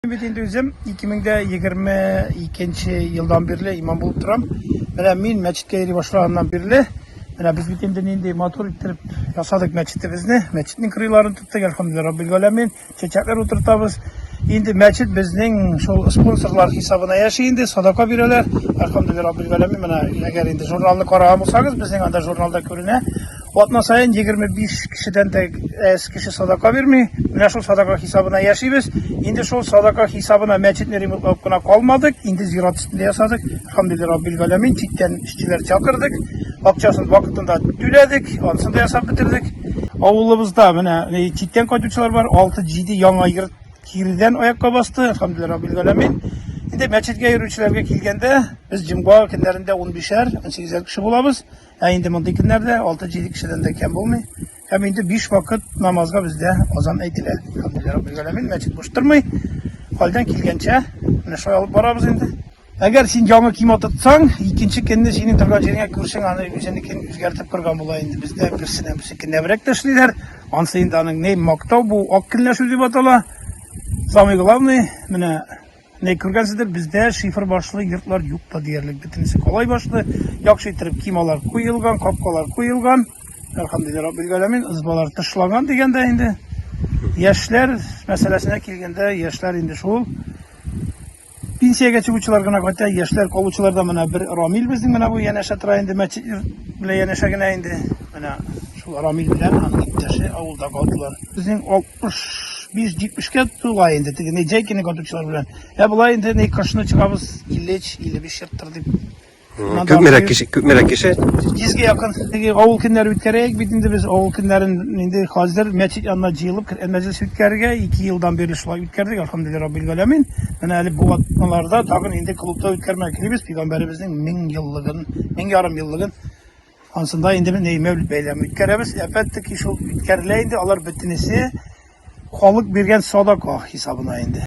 Мин бит инде үзем 2022 елдан бирле имам булып торам. Менә мин мәчеткә йөри башлаганнан бирле, менә без бит инде нинди матур иттереп ясадык мәчетебезне. Мәчетнең кырыйларын тоттык, әлхәмдүлилләһ раббил галәмин. Чәчәкләр утыртабыз. Инде мәчет безнең шул спонсорлар хисабына яши инде, садака бирәләр. Әлхәмдүлилләһ раббил галәмин. Менә әгәр инде журналны караган булсагыз, безнең анда журналда күренә. Атна саен 25 кешедән дә әз кеше садака бирми. Менә шул садака хисабына яшибез. Инде шул садака хисабына мәчетне ремонтлап кына калмадык. Инде зират өстендә ясадык. Алхамдулилла Раббил галәмин читтән эшчеләр чакырдык. Акчасын вакытында түләдек, анысын да ясап бетердек. Авылыбызда менә э, читтән кайтучылар бар. 6-7 яңа йорт кирдән аякка басты. Алхамдулилла Раббил галәмин. Инде мәчеткә йөрүчеләргә килгәндә, без җомга көннәрендә 15-әр, 18-әр кеше булабыз. Ә инде мондый көннәрдә алты-җиде кешедән дә кәм булмый. Һәм инде биш вакыт намазга бездә азан әйтелә. Хәмдүлилләһ раббил галәмин, мәчет буш тормый. Хәлдән килгәнчә менә шулай алып барабыз инде. Әгәр син яңа кием атытсаң, икенче көнне синең торган җиреңә күршең аны үзенекен үзгәртеп кырган була инде. Бездә берсенә берсе кенәбрәк тә эшлиләр. Ансы инде аның ни мактау бу ак көнләшү дип атала. Самый главный менә Менә күргәнсездер, бездә шифер башлы йортлар юк та диярлек, бөтенесе калай башлы, яхшы иттереп кималар куелган, капкалар куелган, әлхәмдулиллаһи раббил галәмин, ызбалар тышлаган дигәндә инде. Яшьләр мәсьәләсенә килгәндә, яшьләр инде шул пенсиягә чыгучылар гына кайта, яшьләр калучылар да менә бер Рамил безнең менә бу янәшә тора инде, мәчет белән янәшә генә инде. Менә шул Рамил белән аның иптәше авылда калдылар. Безнең 65-70-кә тула инде, теге Неджайкины көтүчеләр белән. Ә болай инде ни кышны чыгабыз 53-55 чыктыр дип. Күпмерәк кеше, күпмерәк кеше? 100-гә якын. Теге авыл көннәре үткәрәйек бит инде без авыл көннәрен инде хәзер мәчет янына җыелып Коръән мәҗлесе үткәрергә 2 елдан бирле шулай үткәрдек, әлхәмдүлилләһи раббил галәмин. Менә әле бу атналарда тагын инде клубта үткәрмәгә телибез, пәйгамбәребезнең 1000 еллыгын, 1000 ярым еллыгын. Анысында инде без нәй мәүлид бәйләме үткәрәбез. Әпәттеки шул үткәрелә инде, алар бөтенесе халык биргән садака хисабына инде.